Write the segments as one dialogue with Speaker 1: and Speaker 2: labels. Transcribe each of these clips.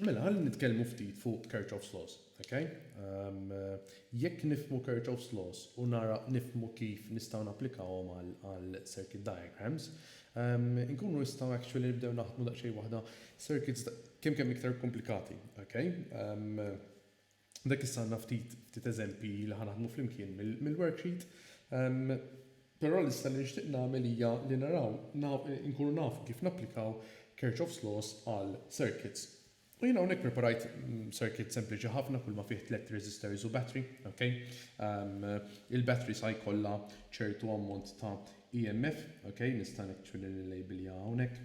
Speaker 1: Mela, ħalli nitkellmu ftit fuq Kirchhoff's Laws, ok? Jekk nifhmu Kirchhoff's Laws u nara nifhmu kif nistgħu napplikawhom għal circuit diagrams, inkunu nistgħu actually nibdew naħdmu daqsxejn waħda circuits kemm kemm iktar komplikati, ok? Għandek issa għandna ftit ftit eżempji li ħa naħdmu flimkien mill-worksheet. Però l-issa li nixtieq nagħmel hija li naraw inkunu nafu kif napplikaw Kirchhoff's laws għal circuits. U jiena hawnhekk preparajt circuit sempliċi ħafna kull ma fih tlett resistors u battery, ok? Il-battery sa jkollha ċertu ammont ta' EMF, ok? Nista' actually nillabelja hawnhekk.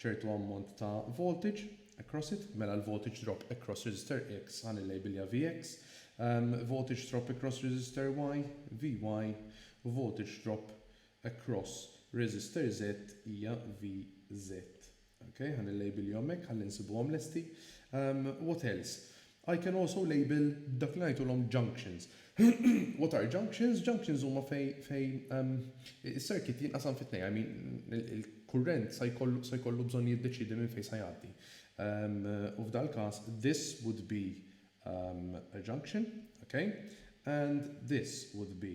Speaker 1: ċertu ammont ta' voltage across it, mela l-voltage drop across resistor X ħa nillejbilja Vx, voltage drop across resistor Y, Vy, u voltage drop across resistor Z hija Vz. Ok, ħa nillejbilhom hekk ħalli nsibuhom lesti. What else? I can also label dak li ngħidulhom junctions. What are junctions? Junctions huma fejn is-circuit jinqasam fi tnejn, I mean il-kurrent sa jkollu bżonn jiddeċiedi minn fejn sa jgħaddi. U f'dal-każ this would be a junction, ok, and this would be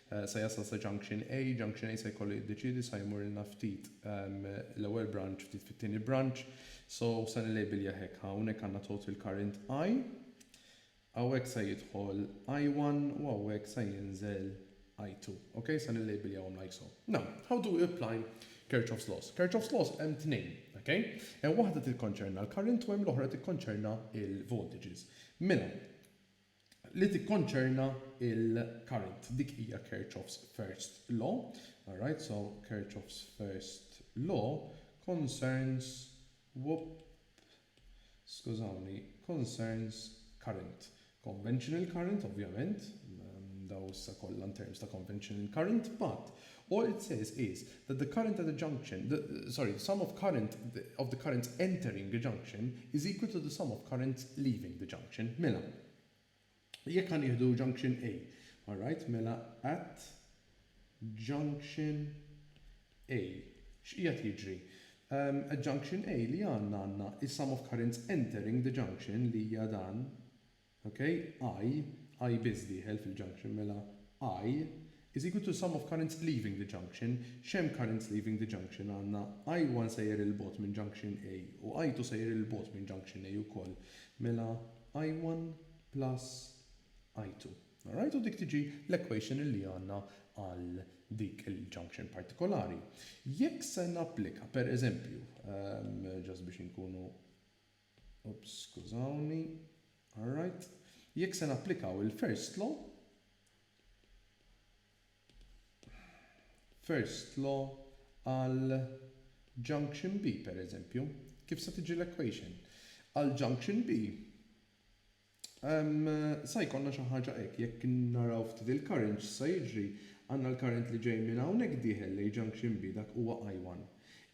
Speaker 1: Sa jasal sa junction A, junction A sa jkollu jiddeċiedi sa jmurilna ftit l-ewwel branch ftit fit-tieni branch, so sa nilabelja hekk ħa hawnhekk għandna total current I, hawnhekk sa jidħol I-one u hawnhekk sa jinżel I-two, ok sa nilabeljaw like so. Now, how do we apply Kirchhoff's laws? Kirchhoff's laws hemm tnejn, ok? Hemm waħda tikkonċerna l-current u hemm l-oħra tikkonċerna l-voltages. Mela, li tikkonċerna l-current. Dik hija Kirchhoff's first law. Alright, so Kirchhoff's first law concerns, whoop, skużawni, concerns current. Conventional current, ovvjament, dawn issa kollha in terms ta' conventional current, but All it says is that the current at the junction, the, sorry, the sum of current of the currents entering a junction is equal to the sum of currents leaving the junction. Mela, jekk ħa nieħdu junction A, all right, mela at junction A, x'qiegħed jiġri? Um, at junction A li għandna għandna is-sum of currents entering the junction li hija dan, Ok, I, I biss dieħel fil-junction, mela I is equal to sum of currents leaving the junction, x'hemm currents leaving the junction għandna I one sejjer 'il bogħod minn junction A u I two sejjer 'il bogħod minn junction A ukoll, mela I one plus I two. Alright, u dik tiġi l-equation li għandna għal dik il-junction partikolari. Jekk se napplika, per eżempju, just biex inkunu, Oops, skużawni. Alright. Jekk se napplikaw il-first law, first law għal junction B, pereżempju, kif se tiġi l-equation? Għal junction B, Sa jkollna xi ħaġa hekk. Jekk naraw ftit il-current x'sa jiġri, għandna l-current li ġej minn hawnhekk dieħel lejn Junction B dak huwa I one.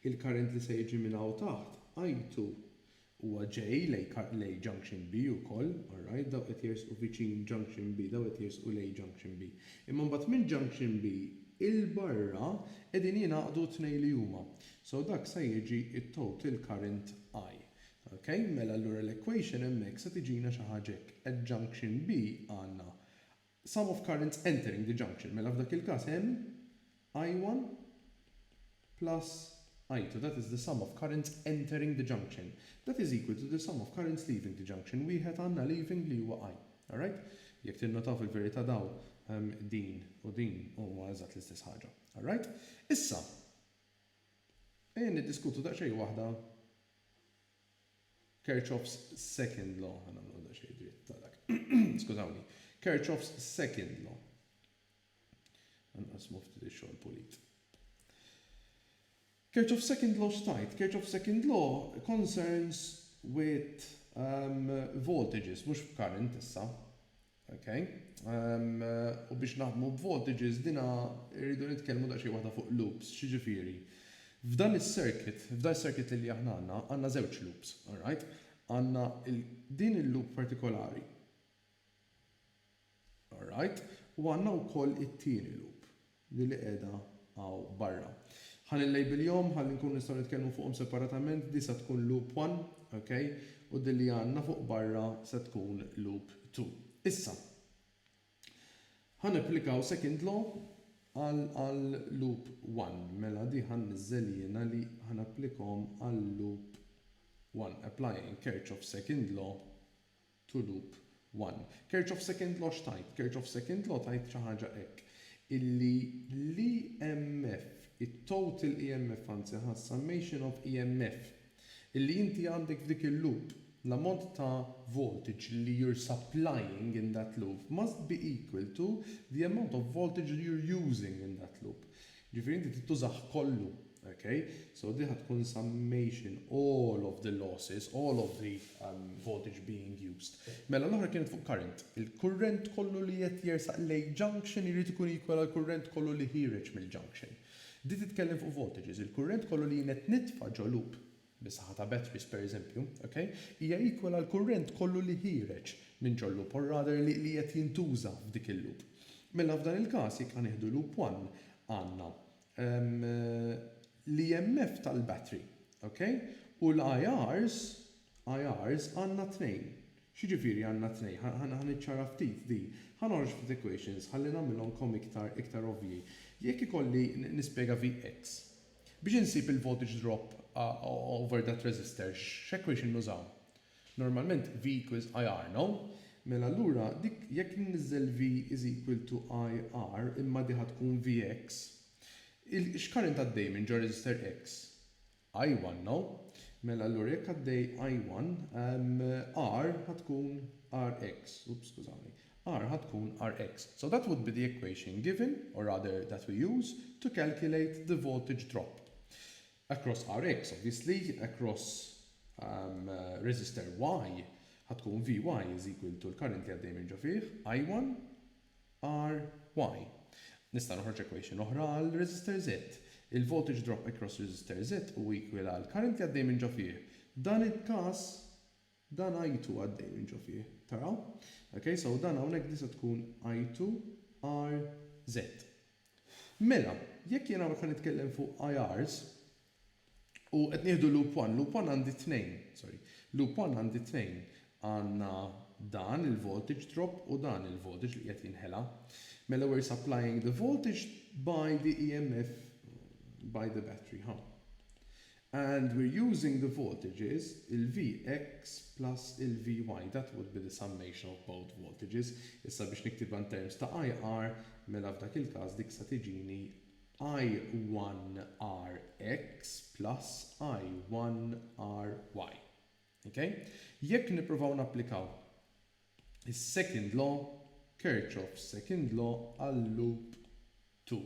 Speaker 1: Il-current li se jiġi minn hawn taħt, I two, huwa ġej lejn Junction B ukoll, alright, dawn qed jersqu viċin Junction B, dawn qed jersqu lejn Junction B. Imma mbagħad minn Junction B 'il barra qegħdin jingħaqdu t-tnejn li huma. So dak sa jiġi t-total current I. Ok, mela allura l-equation hemmhekk se tiġina xi ħaġa hekk, at junction B għandna sum of currents entering the junction, mela f'dak il-każ hemm I1 plus I2, that is the sum of currents entering the junction, that is equal to the sum of currents leaving the junction, wieħed għandna leaving li huwa I. Alright? Jekk tinnotaw fil-verità dawn ehm din u din huma eżatt l-istess ħaġa. Alright? Issa, ejja niddiskutu daqsxejn waħda Kirchhoff's second law, ħa nagħmluha daqsxejn dritta dak, skużawni, Kirchhoff's second law. Ħa nqassmu ftit ix-xogħol pulit. Kirchhoff's second law x'tgħid? Kirchhoff's second law concerns with um, voltages, mhux b'current issa. Ok. U biex naħdmu b'voltages dinha rridu nitkellmu daqsxejn waħda fuq loops. X'jiġifieri? F'dan is-circuit, f'dan is-circuit li aħna għandna, għandna żewġ loops, alright? Għandna din il-loop partikolari, alright? U għandna wkoll it-tieni loop, li li qiegħda hawn barra. Ħa nillejbiljhom ħalli nkunu nistgħu nitkellmu fuqhom separatament, di sa tkun loop one, ok, u din li għandna fuq barra se tkun loop two. Issa, ħa napplikaw second law għal għal loop one, mela di ħa nniżżel jiena li ħa napplikhom għal loop one, applying Kirchhoff's second law Tulub, one. Kerċ of second law x'tgħid? Kerċ of second law tgħid xi ħaġa hekk, illi l-EMF, it-total EMF anzi ħa summation of EMF, illi inti għandek f'dik il-loop, l-ammont ta' voltage li you're supplying in that loop must be equal to the amount of voltage you're using in that loop. Ġifieri inti trid tużah kollu. Ok? So din ħa tkun summation all of the losses, all of the voltage being used. Mela l-oħra kienet fuq current. Il-kurrent kollu li qed jersaq lejn junction irid ikun equal għall-kurrent kollu li ħiereġ mill-junction. Di titkellem fuq voltages. Il-kurrent kollu li jien qed nitfa' ġo loop. bis-saħħa ta' batteries pereżempju, ok, hija equal għall-kurrent kollu li ħiereġ minn ġo loop or rather li li qed jintuża f'dik il-loop. Mela f'dan il-każ jekk ħa nieħdu loop one għandna ehm l-EMF tal-battery, ok, u l-IRs, IRs għandna tnejn. X'jiġifieri għandna tnejn? Ħa ħa niċċara ftit din. Ħa noħroġ ftit equations ħalli nagħmilhomkom iktar iktar ovvji. Jekk ikolli nispjega vx, Biex insib il-voltage drop over that resistor x'equation nużaw? Normalment V equals IR, no? Mela allura dik jekk inniżżel V is equal to IR imma di ħa tkun Vx, x'current għaddej minn ġo resistor X? I1, no? Mela allura jekk għaddej I1, R ħa tkun Rx, oops skużawni. R ħa tkun Rx. So that would be the equation given, or rather that we use, to calculate the voltage drop across Rx. Obviously across um resistor Y ħa tkun Vy is equal to l-current li għaddej minn ġo fih, I1 Ry. Nista' noħroġ equation oħra għal resistor Z. Il-voltage drop across resistor Z hu equal għall-current li għaddej minn ġo fih. Dan il-każ Dan għajtu għaddej minn ġo fih. Taraw? Ok, so dan hawnhekk di se tkun għajtu RZ. Mela, jekk jien hawnhekk ħa nitkellem fuq IRs, u qed nieħdu loop one, loop one għandi tnejn, sorry, loop one għandi tnejn, għandna dan il-voltage drop u dan il-voltage li qiegħed jinħela. Mela we're supplying the voltage by the EMF by the battery, ħa. And we're using the voltages, il-Vx plus il-Vy, that would be the summation of both voltages. Issa biex niktibha in terms ta' IR, mela f'dak il-każ dik se tiġini I1RX plus I1RY. Ok? Jekk nippruvaw napplikaw is-second law, Kirchhoff's second law, għal-loop 2.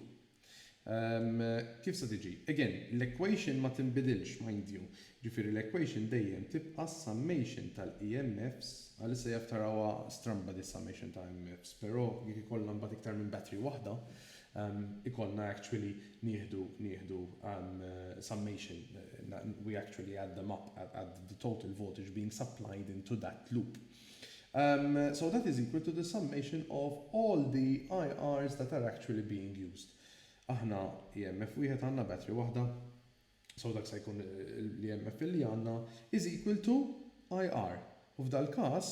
Speaker 1: Ehm, kif se tiġi? Again, l-equation ma tinbidilx, mind you. Ġifieri l-equation dejjem tibqa' s-summation tal-EMFs, għalissa jaf tarawha stramba di summation ta' EMFs, però jekk ikollna mbagħad iktar minn battery waħda, ikollna actually nieħdu nieħdu summation, we actually add them up at the total voltage being supplied into that loop. So that is equal to the summation of all the IRs that are actually being used. Aħna EMF wieħed għandna battery waħda, so dak se jkun l-EMF li għandna is equal to IR. U f'dal-każ,